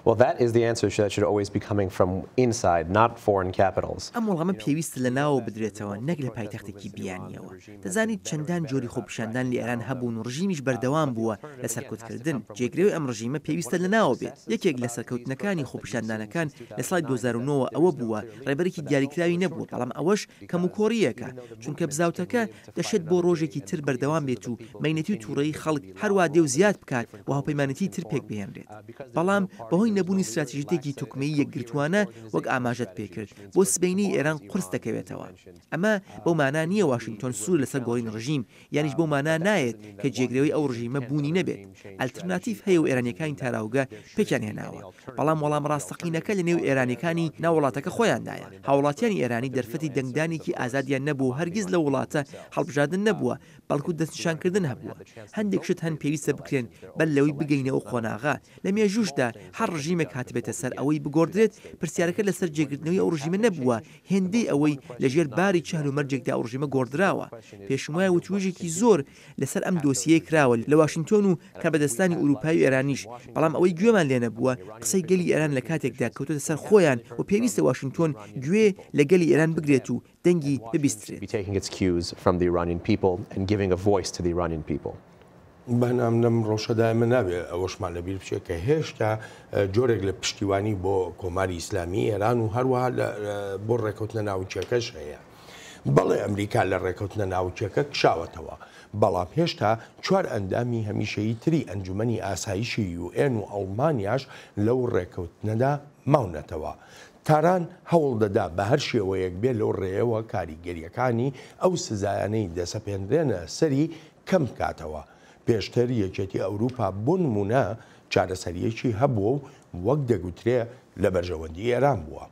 Well that is the answer that should always be coming from inside not foreign capitals. ئەم وڵامە پێویستە لە ناوەوە بدرێتەوە نەک لە پایتەختێکی بیانییەوە. دەزانیت چەندان جۆری خۆپیشاندان لە ئێران هەبوون و ڕژیمیش بەردەوام بووە لە سەرکوتکردن. جێگرەوەی ئەم ڕژیمە پێویستە لە ناوەوە بێت. یەکێک لە سەرکەوتنەکانی خۆپیشاندانەکان لە ساڵی دوو هەزار و نۆ وە ئەوە بووە ڕێبەرێکی دیاریکراوی نەبووە بەڵام ئەوەش کەموکۆڕییەکە چونکە بزاوتەکە دەشێت بۆ ڕۆژێکی تر بەردەوام بێت و مەینەتی و تووڕەیی خەڵک هەروا دێ و زیاد بکات و هاوپەیمانێتیی تر پێک بهێنرێت. بەڵام بەهۆی نەبوونی ستراتیژیتێکی تۆکمەیی یەکگرتووانە، وەک ئاماژەت پێ کرد، بۆ سبەینێی ئێران قورس دەکەوێتەوە. ئەمە بەو مانا نییە واشینگتۆن سوور لەسەر گۆڕینی ڕژیم، یانیش بەو مانا نایەت کە جێگرەوەی ئەو ڕژیمە بوونی نەبێت. ئەلترناتیڤ هەیە و ئێرانییەکانی تاراوگە پێکیان هێناوە، بەڵام وەڵام ڕاستەقینەکە لە نێو ئێرانیەکانی ناو وڵاتەکە خۆیاندایە. هاوڵاتیانی ئێرانی دەرفەتی دەنگدانێکی ئازادیان نەبوو و هەرگیز لەو وڵاتە هەڵبژاردن نەبووە، بەڵکو دەستنیشانکردن هەبووە. هەندێک شت هەن پێویستە بکرێن بەر لەوەی بگەینە ئەو قۆناغە. لە مێژووشدا هەر ڕژیمێک هاتبێتە سەر ئەوەی بگۆڕدرێت، پرسیارەکە لەسەر جێگرتنەوەی ئەو ڕژیمە نەبووە، هێندەی ئەوەی لەژێر باری چهل و مەرجێکدا ئەو ڕژیمە گۆڕدراوە. پێشموایە وتووێژێکی زۆر لەسەر ئەم دۆسیەیە کراوە لە واشینتۆن و کاربەدەستانی ئورووپای و ئێرانیش، بەڵام ئەوەی گوێمان لێ نەبووە قسەی گەلی ئێران لە کاتێکدا کەوتۆتە سەر خۆیان و پێویستە واشینتۆن گوێ لە گەلی ئێران بگرێت و دەنگی ببیسترێت. بەنام لەم ڕەوشەدا ئێمە نابێ ئەوەشمان لە بیر بچێ کە هێشتا جۆرێک لە پشتیوانی بۆ کۆماری ئیسلامیی ئێران و هەروەها لە بۆ ڕێکەوتنە ناوکییەکەش هەیە. بەڵێ ئەمریکا لە ڕێکەوتنە ناوکییەکە کشاوەتەوە، بەڵام هێشتا چوار ئەندامی هەمیشەیی تری ئەنجومەنی ئاسایشی یو ئێن و ئەڵمانیاش لەو ڕێکەوتنەدا ماونەتەوە. تاران هەوڵ دەدا بە هەر شێوەیەک بێ لەو ڕێیەوە کاریگەرییەکانی ئەو سزایانەی دەسەپێنرێنە سەری کەم بکاتەوە. پێشتر یەکێتی ئەوروپا بۆ نموونە چارەسەرییەکی هەبووە و وەک دەگوترێ لە بەرژەوەندی ئێران بووە.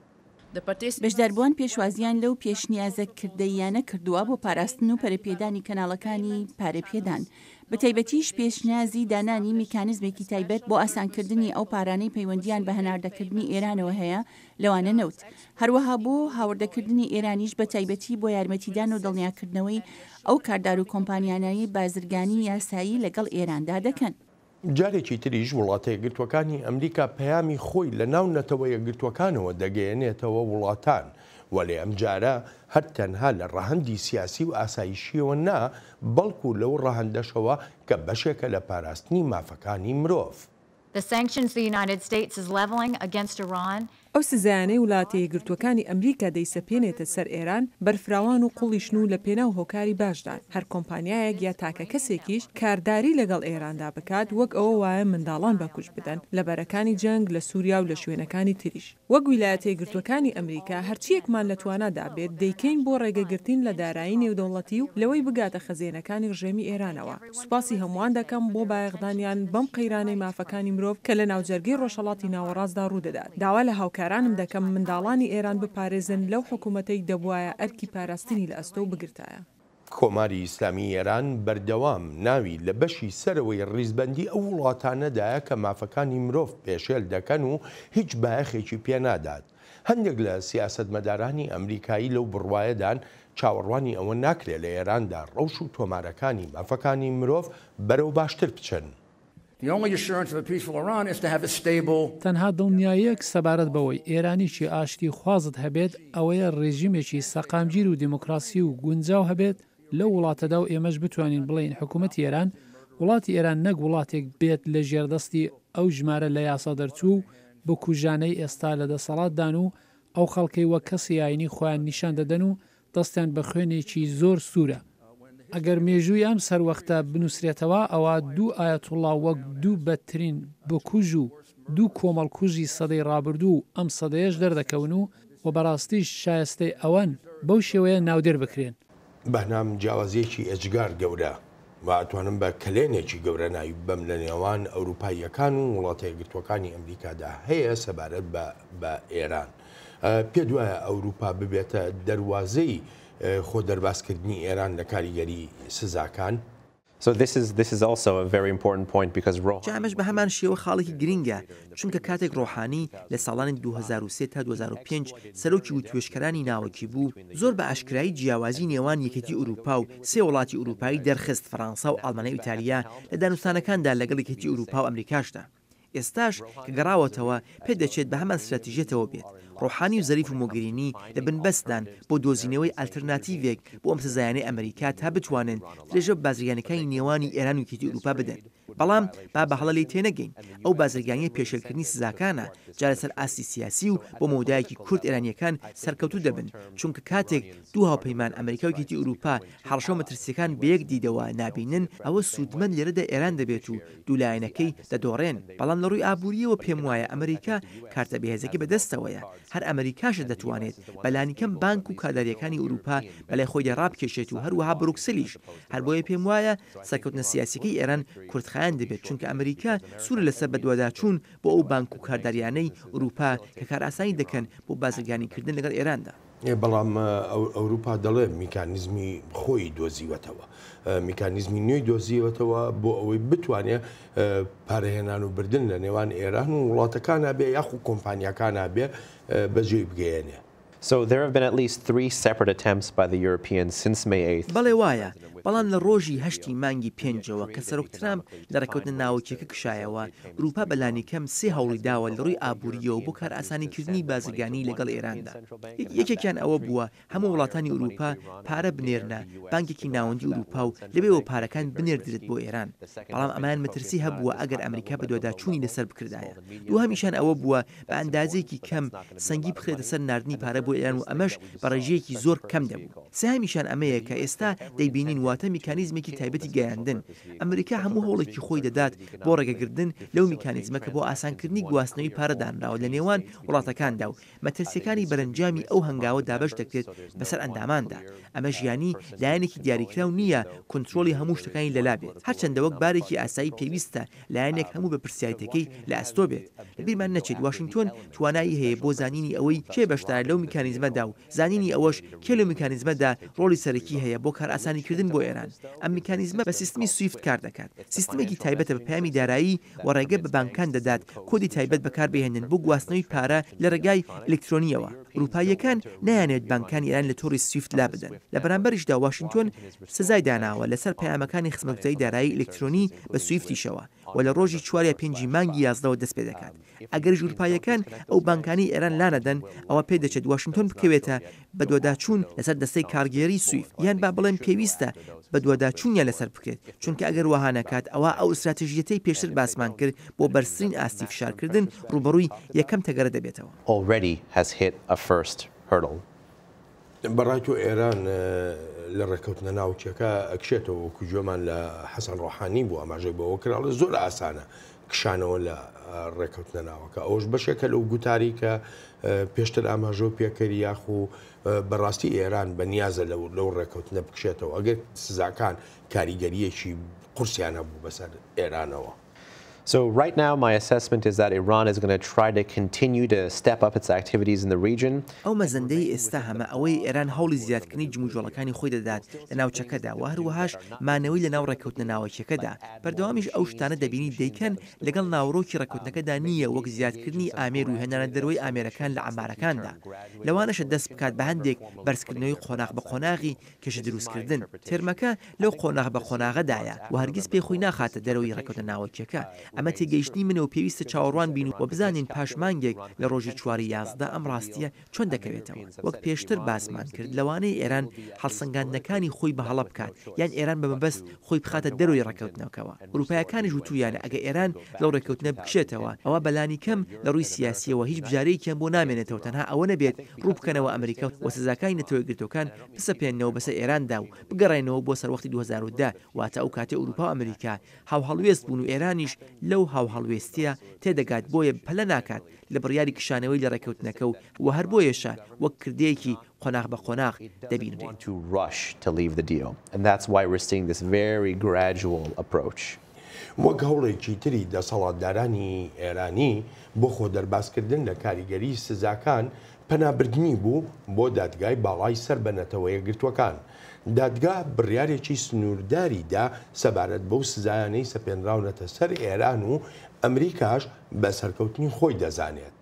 بەشداربووان پێشوازییان لەو پێشنیازە کردەییانە کردووە بۆ پاراستن و پەرەپێدانی کەناڵەکانی پارەپێدان، بەتایبەتیش پێشنیازی دانانی میکانزمێکی تایبەت بۆ ئاسانکردنی ئەو پارانەی پەیوەندییان بە هەناردەکردنی ئێرانەوە هەیە، لەوانە نەوت. هەروەها بۆ هاوردەکردنی ئێرانیش بەتایبەتی بۆ یارمەتیدان و دڵنیاکردنەوەی ئەو کاردار و کۆمپانیانەی بازرگانی یاسایی لەگەڵ ئێراندا دەکەن. جارێکی تریش وڵاتە یەکگرتووەکانی ئەمریکا پەیامی خۆی لە ناو نەتەوە یەکگرتووەکانەوە دەگەیەنێتەوە وڵاتان، وەلێ ئەمجارە هەر تەنها لە ڕەهەندی سیاسی و ئاسایشییەوە نا، بەڵکو لەو ڕەهەندەشەوە کە بەشێکە لە پاراستنی مافەکانی مرۆڤ. The sanctions the United States is leveling against Iran ئەو سزایانەی ولاتە یەکگرتووەکانی ئەمریکا دەیسەپێنێتە سەر ئێران بەرفراوان و قوڵیشن و لە پێناو هۆکاری باشدان. هەر کۆمپانیایەک یا تاکە کەسێکیش کارداری لەگەڵ ئێراندا بکات وەک ئەوە وایە منداڵان بە کوشت بدەن لە بەرەکانی جەنگ لە سوریا و لە شوێنەکانی تریش. وەک ویلایەتە یەکگرتووەکانی ئەمریکا هەرچییەکمان لە توانادا بێت دەیکەین بۆ ڕێگەگرتین لە دارایی نێودەوڵەتی و لەوەی بگاتە خەزێنەکانی ڕژێمی ئێرانەوە. سوپاسی هەمووان دەکەم بۆ بایەخدانیان بەم قەیرانەی مافەکانی مرۆڤ کە لە ناوجەرگەی ڕۆژهەڵاتی ناوەڕاستدا ڕوودەدات. داوا لە هاوکارانم دەکەم منداڵانی ئێران بپارێزن لەو حکوومەتەی دەبوایە ئەرکی پاراستنی لە ئەستۆ بگرتایە. کۆماری ئیسلامیی ئێران بەردەوام ناوی لە بەشی سەرەوەی ڕیزبەندیی ئەو وڵاتانەدایە کە مافەکانی مرۆڤ پێشێل دەکەن و هیچ بایەخێکی پێ نادات. هەندێک لە سیاسەتمەدارانی ئەمریکایی لەو بڕوایەدان چاوەڕوانی ئەوە ناکرێت لە ئێراندا ڕەوش و تۆمارەکانی مافەکانی مرۆڤ بەرەو باشتر بچن. تەنها دڵنیاییەک سەبارەت بەوەی ئێرانیی ئاشتیخوازت هەبێت ئەوەیە ڕێژیمێکی سەقامگیر و دیموکراسی و گونجاو هەبێت، لەو وڵاتەدا و ئێمەش بتوانین بڵێین حکوومەتی ئێران، وڵاتی ئێران نەک وڵاتێک بێت لە ژێردەستی ئەو ژمارە لە یاسا دەرچوو و بکوژانەی ئێستا لە دەسەڵاتدان و ئەو خەڵکەی وەک کەسی ئایینی خۆیان نیشان دەدەن و دەستیان بە خوێنێکی زۆر سوورە. ئەگەر مێژووی ئەم سەروەختە بنووسرێتەوە ئەوا دوو ئایەتوڵڵا وەک دوو بەدترین بکوژ و دوو کۆمەڵکوژی سەدەی ڕابردوو و ئەم سەدەیەش دەردەکەون و و بەڕاستیش شایستەی ئەوەن بەو شێوەیە ناودێر بکرێن. بەنام جیاوازیەکی ئێجگار گەورە و ئەتوانم بە کەلێنێکی گەورە ناوی ببەم لە نێوان ئەوروپاییەکان و وڵاتە یەکگرتووەکانی ئەمریکادا هەیە سەبارەت بە بە ئێران. پێت وایە ئەوروپا ببێتە دەروازەی خۆ دەربازکردنی ئێران لە کاریگەری سزاکان؟ جا ئەمەش بە هەمان شێوە خاڵێکی گرینگە، چونکە کاتێک ڕۆحانی لە ساڵانی دوو هەزار و سێ تا دوو هەزار و پێنج سەرۆکی وتوێژکەرانی ناوەکی بوو، زۆر بە ئاشکرایی جیاوازی نێوان یەکێتی ئورووپا و سێ وڵاتی ئورووپایی دەرخست، فەرانسا و ئاڵمانیا و ئیتالیا، لە دانوستانەکاندا لەگەڵ یەکێتی ئورووپا و ئەمریکاشدا. ئێستاش کە گەڕاوەتەوە پێدەچێت بە هەمان ستراتیژیەتەوە بێت، ڕۆحانی و زەریف و مۆگەرینی لە بنبەستدان بۆ دۆزینەوەی ئەلتەرناتیڤێک بۆ ئەم سزایانەی ئەمریکا تا بتوانن درێژە بە بازرگانیەکانی نێوانی ئێران و یەکێتی ئوروپا بدەن بەڵام با بە هەڵە لێی تێنەگەین ئەو بازرگانیە پێشێلکردنی سزاکانە جا لەسەر ئاستی سیاسی و بۆ مەودایەکی کورت ئێرانیەکان سەرکەوتوو دەبن چونکە کاتێک دوو هاوپەیمان ئەمریکا و یەکێتی ئوروپا هەڕەشە و مەترسیەکان بەیەک دیدەوە نابینن ئەوە سوودمەند لێرەدا ئێران دەبێت و دوو لایەنەکەی دەدۆڕێن، بەڵام لە ڕووی ئابوورییەوە پێم وایە ئەمریکا کارتە بەهێزەکەی بە دەستەوەیە، هەر ئەمریکاشە دەتوانێت بە لانیکەم بانک و کادارییەکانی ئورووپا بە لای خۆیدا ڕابکێشێت و هەروەها بروکسلیش، هەر بۆیە پێم وایە سەرکەوتنە سیاسییەکەی ئێران کورتخایەن دەبێت چونکە ئەمریکا سوورە لەسەر بەدواداچوون بۆ ئەو بانک و کاردارییانەی ئورووپا کە کارئاسانی دەکەن بۆ بازرگانیکردن لەگەڵ ئێراندا. بەڵام ئەوروپا دەڵێ میکانیزمی خۆی دۆزیوەتەوە میکانیزمی نوێی دۆزیوەتەوە بۆ ئەوەی بتوانێ پارەهێنان و بردن لە نێوان ئێران و وڵاتەکان بێ یاخو کۆمپانیەکان بێ بەجێی بگەیەنێ. بەڵێ وایە، بەڵام لە ڕۆژی هەشتی مانگی پێنجەوە کە سەرۆک ترامپ لە ڕێککەوتنە ناوکییەکە کشایەوە، ئورووپا بە لانیکەم سێ هەوڵی داوە لە ڕووی ئابوورییەوە بۆ کارئاسانیکردنی بازرگانیی لەگەڵ ئێراندا. یەکێکیان ئەوە بووە هەموو وڵاتانی ئورووپا پارە بنێرنە بانکێکی ناوەندی ئورووپا و لەوێوە پارەکان بنێردرێت بۆ ئێران، بەڵام ئەمەیان مەترسی هەبووە ئەگەر ئەمریکا بەدواداچوونی لەسەر بکردایە. دووهەمیشیان ئەوە بووە بە ئەندازەیەکی کەم سەنگی بخرێتە سەر ناردنی پارە بۆ ئێران و ئەمەش بە ڕێژەیەکی زۆر کەم دەبوو. سێهەمیشیان ئەمەیە کە ئێستا دەیبینین واتە میکانیزمێکی تایبەتی گەیاندن. ئەمریکا هەموو هەوڵێکی خۆی دەدات بۆ ڕێگەگردن لەو میکانیزمە کە بۆ ئاسانکردنی گواستنەوەی پارە دانراوە لە نێوان وڵاتەکاندا و مەترسییەکانی بەرەنجامی ئەو هەنگاوە دابەش دەکرێت بەسەر ئەنداماندا. ئەمەش یانی لایەنێکی دیاریکراو نییە کونترۆڵی هەموو شتەکانی لەلا بێت هەرچەندە وەک بارێکی ئاسایی پێویستە لایەنێک هەموو بەپرسیاریتەکەی لە ئەستۆ بێت. لە بیرمان نەچێت واشینگتۆن توانایی هەیە بۆ زانینی ئەوەی کێ بەشدارە لەو میکانیزمەدا و زانینی ئەوەش کێ لەو میکانیزمەدا ڕۆڵی سەرەکی هەیە بۆ کارئاسانیکردن بۆ ئێران. ئەم میکانیزمە بە سیستمی سویفت کار دەکات. سیستمێکی تایبەتە بە پەیامی دارایی و ڕێگە بە بانکان دەدات کۆدی تایبەت بەکار بهێنن بۆ گواستنەوەی پارە لە ڕێگای ئەلیکترۆنییەوە. ئورووپاییەکان نایانەوێت بانکانی ئێران لە تۆڕی سویفت لابدەن. لە بەرامبەریشدا واشینگتۆن. سزای داناوە لەسەر پەیامەکانی خزمەتگوزاری دارایی ئیلکترۆنی بە سویفتیشەوە و لە ڕۆژی چوار یا پێنجی مانگی یازدەوە دەست پێ دەکات ئەگەر ژوورپاییەکان ئەو بانکانەی ئێران لانەدەن ئەوا پێ دەچێت واشنتۆن بکەوێتە بەدواداچوون لەسەر دەستەی کارگێڕی سویفت یان با بڵێن پێویستە بەدواداچوونیان لەسەر بکرێت چونکە ئەگەر وەها نەکات ئەوا ئەو ستراتژیەتەی پێشتر باسمان کرد بۆ بەرزترین ئاستی فشارکردن ڕووبەڕووی یەکەم تەگەرە دەبێتەوە. بەڕای تۆ ئێران لە ڕێککەوتنە ناوکیەکە ئەکشێتەوە وەکو گوێمان لە حەسەن ڕۆحانی بوو ئاماژەی بەوە کراڵە زۆر ئاسانە کشانەوە لە ڕێککەوتنە ناوەکە ئەوش بەشێکە لەو گوتاری کە پێشتر ئاماژۆ پێکەری یاخ و بەڕاستی ئێران بە نیازە لەو لەو ڕێککەوتنە بکشێتەوە ئەگەر سزاکان کاریگەریەکی قورسیانە بوو بەسەر ئێرانەوە. So right now my assessment is that Iran is going to try to continue to step up its activities in the region. ئەو مەزەندەی ئێستا هەمە ئەوەیە ئێران هەوڵی زیادکردنی جموجۆڵەکانی خۆی دەدات لە ناوچەکەدا و هەروەهاش مانەوەی لە ناو ڕێککەوتنە ناوەکیەکەدا، بەردەوامیش ئەو شتانە دەبینیت دەیکەن لەگەڵ ناوەڕۆکی ڕێککەوتنەکەدا نی یە وەک زیادکردنی ئامێر و هێنانە دەروەی ئامێرەکان لە عەمارەکاندا لەوانەشە دەست بکات بە هەندێک بەرزکردنەوەی قۆناغ بە قۆناغی کێشە دروستکردن، تێرمەکە لەو قۆناغ بە قۆناغەدایە و هەرگیز پێی خۆی ناخاتە دەرەوەی ڕێکەوتنە ناوەکییەکە. ئەمە تێگەیشتنی منە و پێویستە چاوەڕوان بین و بزانین پاش مانگێک لە ڕۆژی چواری یازدە ئەم ڕاستییە چۆن دەکەوێتەوە. وەک پێشتر باسمان کرد لەوانەیە ئێران هەڵسەنگاندنەکانی خۆی بە هەڵە بکات یان ئێران بە مەبەست خۆی بخاتە دەرەوەی ڕێکەوتنەکەوە. ئورووپایەکانیش وتوویانە ئەگە ئێران لەو ڕێکەوتنە بکشێتەوە ئەوا بە لانیکەم لە ڕووی سیاسییەوە هیچ بژارەیەکیان بۆ نامێنێتەوە تەنها ئەوە نەبێت ڕوو بکەنەوە ئەمریکا و سزاکانی نەتەوە یەکگرتووەکان بسەپێننەوە بەسەر ئێراندا و بگەڕێنەوە بۆ سەروەختی دوو هەزار و دە، واتە ئەو کاتەی ئەوروپا و ئەمریکا هاوهەڵوێست بوون و ئێرانیش لەو هاوهەڵوێستییە تێدەگات بۆیە پەلە ناکات لە بڕیاری کشانەوەی لە ڕێککەوتنەکە و وە هەر بۆیەشە وەک کردەیەکی قۆناغ بە قۆناغ دەبینرێت. وەک هەوڵێکی تری دەسەڵاتدارانی ئێرانی بۆ خۆ دەربازکردن لە کاریگەریی سزاکان پەنابردنی بوو بۆ دادگای باڵای سەر بە نەتەوەیەکگرتووەکان. دادگا بڕیارێکی سنوورداری دا سەبارەت بەو سزایانەی سەپێنراونەتە سەر ئێران و ئەمریکاش بە سەرکەوتنی خۆی دەزانێت.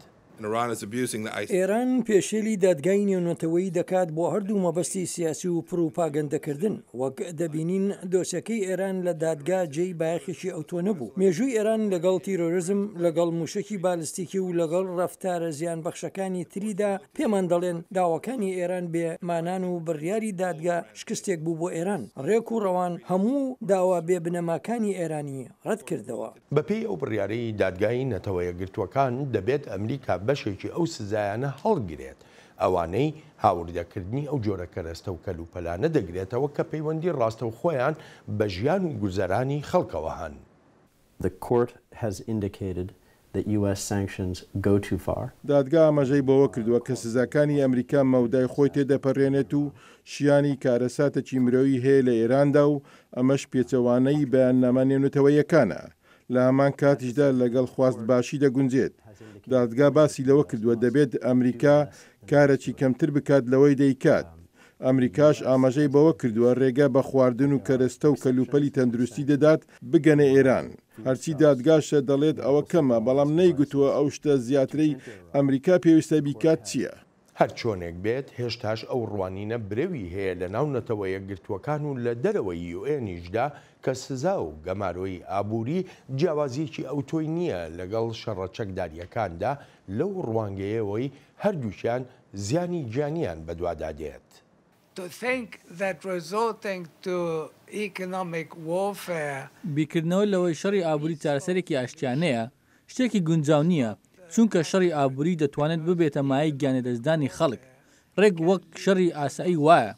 ئێران پێشێلی دادگای نێونەتەوەیی دەکات بۆ هەردوو مەبەستی سیاسی و پڕوپاگەندەکردن. وەک دەبینین دۆسێکەی ئێران لە دادگا جێی بایەخێکی ئەوتۆ نەبوو. مێژووی ئێران لەگەڵ تیرۆرزم، لەگەڵ مووشەکی بالستیکی و لەگەڵ رەفتارە زیانبەخشەکانی تریدا پێمان دەڵێن داواکانی ئێران بێ مانان و بڕیاری دادگا شکستێک بوو بۆ ئێران. رێک و رەوان هەموو داوا بێ بنەماکانی ئێرانی رەتکردەوە. بەپێی ئەو بڕیارەی دادگای نەتەوە یەکگرتووەکان دەبێت ئەمریکا بەشێکی ئەو سزایانە هەڵگرێت ئەوانەی هاوردەکردنی ئەو جۆرە کەرەستە و کەلوپەلانە دەگرێتەوە کە پەیوەندی ڕاستەوخۆیان بە ژیان و گوزەرانی خەڵکەوە هەن. The court has indicated that US sanctions go too far. دادگا ئاماژەی بەوە کردووە کە سزاکانی ئەمریکا مەودای خۆی تێدەپەرێنێت و شیانی کارەساتەکی مرۆیی هەیە لە ئێراندا و ئەمەش پێچەوانەی بەیاننامە نێونەتەوەییەکانە لە هەمان کاتیشدا لەگەڵ خواست باشی دەگونجێت. دادگا باسی لەوە کردووە دەبێت ئەمریکا کارەکی کەمتر بکات لەوەی دەیکات. ئەمریکاش ئاماژەی بەوە کردووە رێگە بە خواردن و کەرەستە و کەلوپەلی تەندروستی دەدات بگەنە ئێران. هەرچی دادگاش دەڵێت ئەوە کەمە، بەڵام نەیگوتووە ئەو شتە زیاترەی ئەمریکا پێویستە بیکات چییە. هەرچۆنێک بێت هێشتاش ئەو ڕوانینە برەوی هەیە لە ناو نەتەوە یەکگرتووەکان و لە دەرەوەی یوئێنیشدا کە سزا و گەمارۆی ئابووری جیاوازییەکی ئەوتۆی نییە لەگەڵ شەڕە چەکدارییەکاندا لەو ڕوانگەیەوەی هەردووکیان زیانی گیانییان بەدوادا دێت. To think that resorting to economic warfare. بیرکردنەوە لەوەی شەڕی ئابووری چارەسەرێکی ئاشتیانەیە، شتێکی گونجاو نییە، چونکە شەڕی ئابووری دەتوانێت ببێتە مایەی گیانلەدەستدانی خەڵک، ڕێک وەک شەڕی ئاسایی وایە.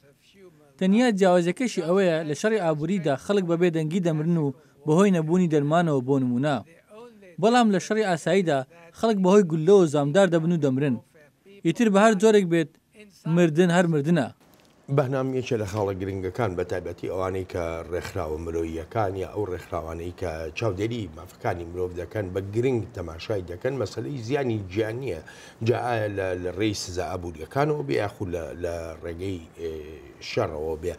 تەنیا جیاوازییەکەشی ئەوەیە، لە شەڕی ئابووریدا خەڵک بە بێدەنگی دەمرن و بەهۆی نەبوونی دەرمانەوە بۆ نموونە، بەڵام لە شەڕی ئاساییدا خەڵک بەهۆی گوللەوە زامدار دەبن و دەمرن. ئیتر بە هەر جۆرێک بێت، مردن هەر مردنە. بهنام یەکێ لە خاڵە گرنگەکان بە تایبەتی ئەوانەی کە ڕێکخراوە مرۆییەکان یا ئەو ڕێکخراوانەی کە چاودێری مافەکانی مرۆڤ دەکەن بە گرنگ تەماشای دەکەن مەسلەی زیانی گیانیە جا ئایا لە ڕێی سزا ئابوووریەکانەوە بێ یاخو لە ڕێگەی شەڕەوە بێ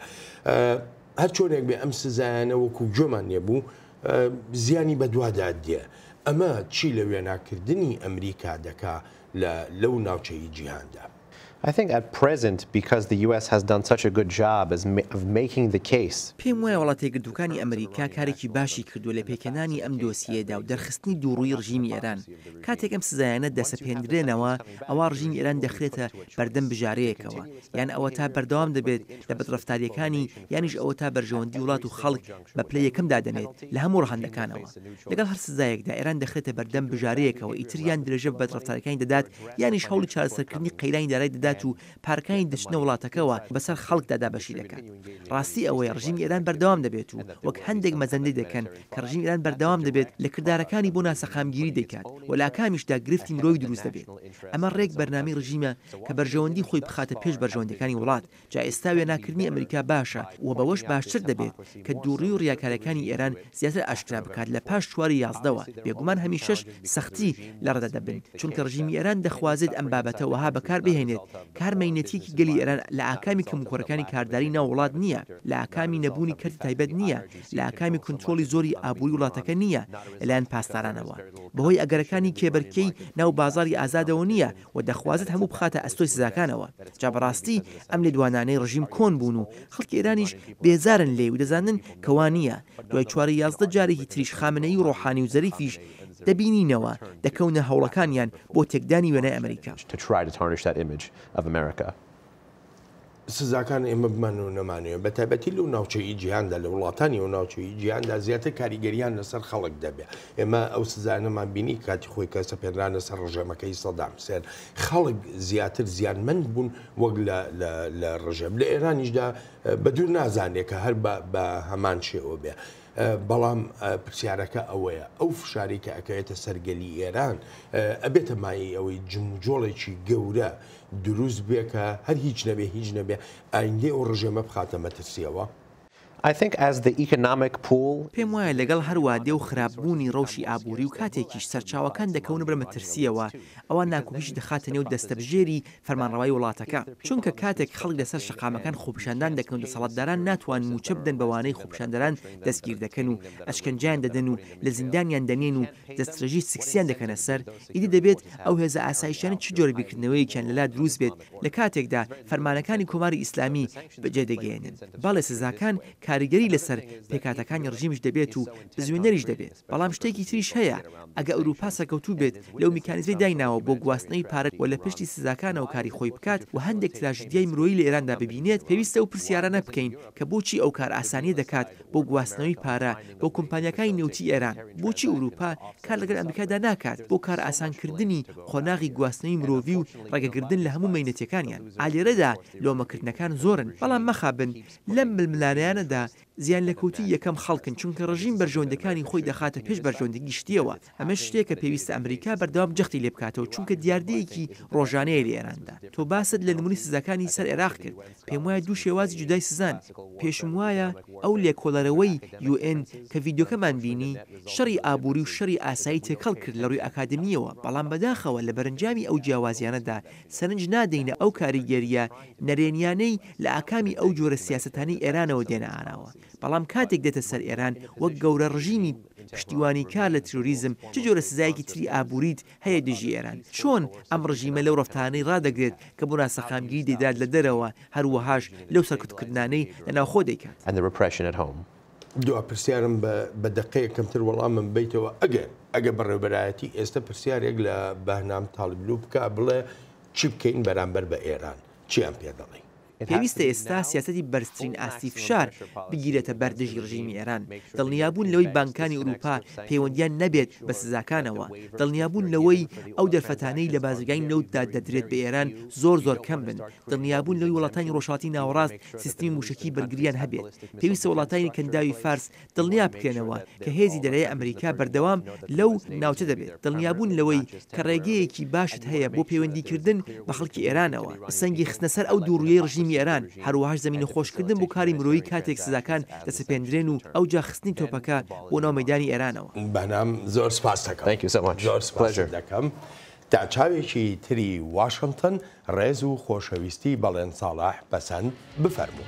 هەر چۆنێک بێ ئەم سزایانە وەکو گوێمان لێ بوو زیانی بەدوادا دێ ئەمە چی لە وێناکردنی ئەمریکا دەکا لەو ناوچەی جیهاندا. I think at present because the US has done such a good job as of making the case. پێم وایە وڵاتە یەکگرتووەکانی ئەمریکا کارێکی باشی کردووە لە پێکهێنانی ئەم دۆسیەیەدا و دەرخستنی دووڕووی ڕژیمی ئێران. کاتێک ئەم سزایانە دەسەپێندرێنەوە ئەوا ڕژیمی ئێران دەخرێتە بەردەم بژارەیەکەوە یان ئەوەتا بەردەوام دەبێت لە بەدڕەفتارییەکانی یانیش ئەوەتا بەرژەوەندی وڵات و خەڵک بە پلەی یەکەم دادەنێت لە هەموو ڕەهەندەکانەوە. لەگەڵ هەر سزایەکدا ئێران دەخرێتە بەردەم بژارەیەکەوە ئیتر یان درێژە بە بەدڕەفتاریەکانی دەدات یانیش هەوڵی چارەسەرکردنی قەیرانی دارای دەدات و پارەکانی دەچنە وڵاتەکەوە بەسەر خەڵکدا دابەشی دەکات. ڕاستی ئەوەیە ڕژیمی ئێران بەردەوام دەبێت و وەک هەندێک مەزەندەی دەکەن کە ڕژیمی ئێران بەردەوام دەبێت لە کردارەکانی بۆ ناسەقامگیری دەیکات و لە ئاکامیشدا گرفتی مرۆیی دروست دەبێت. ئەمە ڕێک بەرنامەی ڕژیمە کە بەرژەوەندی خۆی بخاتە پێش بەرژەوەندیەکانی وڵات جا ئێستا وێناکردنی ئەمریکا باشە و بەوەش باشتر دەبێت کە دووڕی و ڕیاکارەکانی ئێران زیاتر ئاشکرا بکات لە پاش چواری یازدەوە بێگومان هەمیشەش سەختی لە ڕەدە دەبن چونکە ڕژیمی ئێران دەخوازێت ئەم بابەتە وەها بەکار بهێنێت کە هەر مەینەتیەکی گەلی ئێران لە ئاکامی کەموکوڕەکانی کارداری ناو وڵات نییە لە ئاکامی نەبوونی کەرتی تایبەت نییە لە ئاکامی کونترۆڵی زۆری ئابووری وڵاتەکە نییە لەلایەن پاسدارانەوە بەهۆی ئەگەرەکانی کێبەرکێی ناو بازاڕی ئازادەوە نییە و دەخوازێت هەموو بخاتە ئەستۆی سزاکانەوە، جا بەڕاستی ئەم لێدوانانەی ڕژیم کۆن بوون و خەڵکی ئێرانیش بێزارن لێی و دەزانن کە وا نییە، دوای چواری یازدە جارێکی تریش خامنەیی و ڕۆحانی و زەریفیش دەبینینەوە دەکەونە هەوڵەکانیان بۆ تێکدانی وێنای ئەمریکا. سزاکان ئێمە بمان و نەمانوێ بە تایبەتی لەو ناوچەی جیهاندا لە وڵاتانی و ناوچەی جیهاندا زیاتر کاریگەریان لەسەر خەڵک دەبێت ئێمە ئەو سزانەمان بینی کاتی خۆی کەسە پێنرانە سەر ڕژێمەکەی سەدام حسێن خەڵک زیاتر زیانمەند بوون وەک لە ڕژێم لە ئێرانیشدا بە دوور نازانێت کە هەر بە هەمان شێوە بێ. بەڵام پرسیارەکە ئەوەیە ئەو فشاری کە ئەکەوێتە سەرگەلی ئێران ئەبێتە مای ئەوەی جموجۆڵێکی گەورە دروست بێ کە هەر هیچ نەبێ هیچ نەبێ ئایندەی ئەو ڕژێمە بخاتە مەترسیەوە. I think as the economic pool. پێم وایە لەگەڵ هەر وادە و خراپ بوونی ڕەوشی ئابووری و کاتێکیش سەرچاوەکان دەکەونە بەر مەترسیەوە ئەوا ناکۆکیش دەخاتە نێو دەستەبژێری فەرمانڕەوای وڵاتەکە چونکە کاتێک خەڵک لەسەر شەقامەکان خۆپیشاندان دەکەن و دەسەڵاتداران ناتوان مووچە بدەن بەوانەی خۆپیشاندەران دەستگیر دەکەن و ئەشکەنجەیان دەدەن و لە زیندانیان دەنێن و دەستڕێژی سکسیان دەکەنە سەر، ئیدی دەبێت ئەو هێزە ئاسایشیانە چ جۆرە بیرکردنەوەیەکیان لەلا دروست بێت لە کاتێکدا فەرمانەکانی کۆماری ئیسلامی بەجێ دەگەیەنن. بەڵێ سزاکان کاریگەری لەسەر پێکهاتەکانی ڕژیمش دەبێت و بزوێنەریش دەبێت، بەڵام شتێکی تریش هەیە، ئەگە ئەوروپا سەرکەوتوو بێت لەو میکانیزمەی دایناوە بۆ گواستنەوەی پارە و لە پشتی سزاکانەوە کاری خۆی بکات و هەندێک تراژیدیای مرۆیی لە ئێراندا ببینێت، پێویستە ئەو پرسیارانە بکەین کە بۆچی ئەو کارئاسانیە دەکات بۆ گواستنەوەی پارە بۆ کۆمپانیاکانی نەوتی ئێران، بۆچی ئورووپا کار لەگەل ئەمریکادا ناکات بۆ کارئاسانکردنی قۆناغی گواستنەوی مرۆڤی و ڕێگەگردن لە هەموو مەینەتیەکانیان، ئا لێرەدا لۆمەکردنەکان زۆرن، بەڵام مەخابن لەم ململانێیانەدا زیانلێکەوتووی یەکەم خەڵکن چونکە ڕژیم بەرژەوەندیەکانی خۆی دەخاتە پێش بەرژەوەندی گشتیەوە، ئەمەش شتێکە پێویستە ئەمریکا بەردەوام جەختی لێ بکاتەوە چونکە دیاردەیەکی ڕۆژانەیە لە ئێراندا. تۆ باست لە نمونەی سزاکانی سەر عێراق کرد، پێم وایە دوو شێوازی جودای سزان، پێشم وایە ئەو لێکۆڵەرەوەی یو ئێن کە ڤیدیۆکەمان بینی، شەڕی ئابوری و شەڕی ئاسایی تێکەڵ کرد لە ڕوی ئاکادمیەوە، بەڵام بەداخەوە لە بەرەنجامی ئەو جیاوازیانەدا سەرنج نادەینە ئەو کاریگەریە نەرێنیانەی لە ئاکامی ئەو جۆرە سیاسەتانەی ئێرانەوە دێنە ئاراوە. بەڵام کاتێک دێتە سەر ئێران وەک گەورە ڕژیمی پشتیوانی کار لە ترۆریزم چ جۆرە سزایەکی تری ئابووریت هەیە دژی ئێران؟ چۆن ئەم ڕژیمە لەو ڕەفتارانەی ڕادەگرێت کە بۆ ناسەقامگیری دەیدات لە دەرەوە هەر وەهاش لەو سەرکوتکردنانەی لە ناوخۆ دەیکات؟ دوا پرسیارم بە بە دەقەیەک کەمتر وەڵامم بەیتەوە ئەگەر ئەگەر بەڕێوبەرایەتی ئێستە پرسیارێک لە بەهنام تاڵیبلو بکا بڵێ چی بکەین بەرامبەر بە ئێران چیان پێ دەڵێی؟ پێویستە ئێستا سیاسەتی بەرزترین ئاستی فشار بگیرێتە بەر دژی رژیمی ئێران، دڵنیابوون لەوەی بانکانی ئورووپا پەیوەندییان نەبێت بە سزاکانەوە، دڵنیابوون لەوەی ئەو دەرفەتانەی لە بازرگانی نەوتدا دەدرێت بە ئێران زۆر زۆر کەم بن، دڵنیابوون لەوەی وڵاتانی رۆژهەڵاتی ناوەڕاست سیستمی مووشەکی بەرگرییان هەبێت، پێویستە وڵاتانی کەنداوی فارس دڵنیا بکەنەوە کە هێزی دەرەێ ئەمریکا بەردەوام لەو ناوچە دەبێت، دڵنیابوون لەوەی کە ڕێگەیەکی باشت هەیە بۆ پەیوەندیکردن بە خەڵکی ئێرانەوە، سەنگی خستنە سەر ئەو دووڕویەی ڕژیمی ئێران، هەروەهاش زەمینەخۆشکردن بۆ کاری مرۆیی کاتێک سزاکان دەسەپێندرێن و ئەوجا خستنی تۆپەکە بۆ ناو مەیدانی ئێرانەوە. بەنام، زۆر سپاستەکەم. زۆر سپاست دەکەم. تا چاوێکی تری واشنتن، ڕێز و خۆشەویستی بەڵێن ساڵح پەسەند بفەرموو.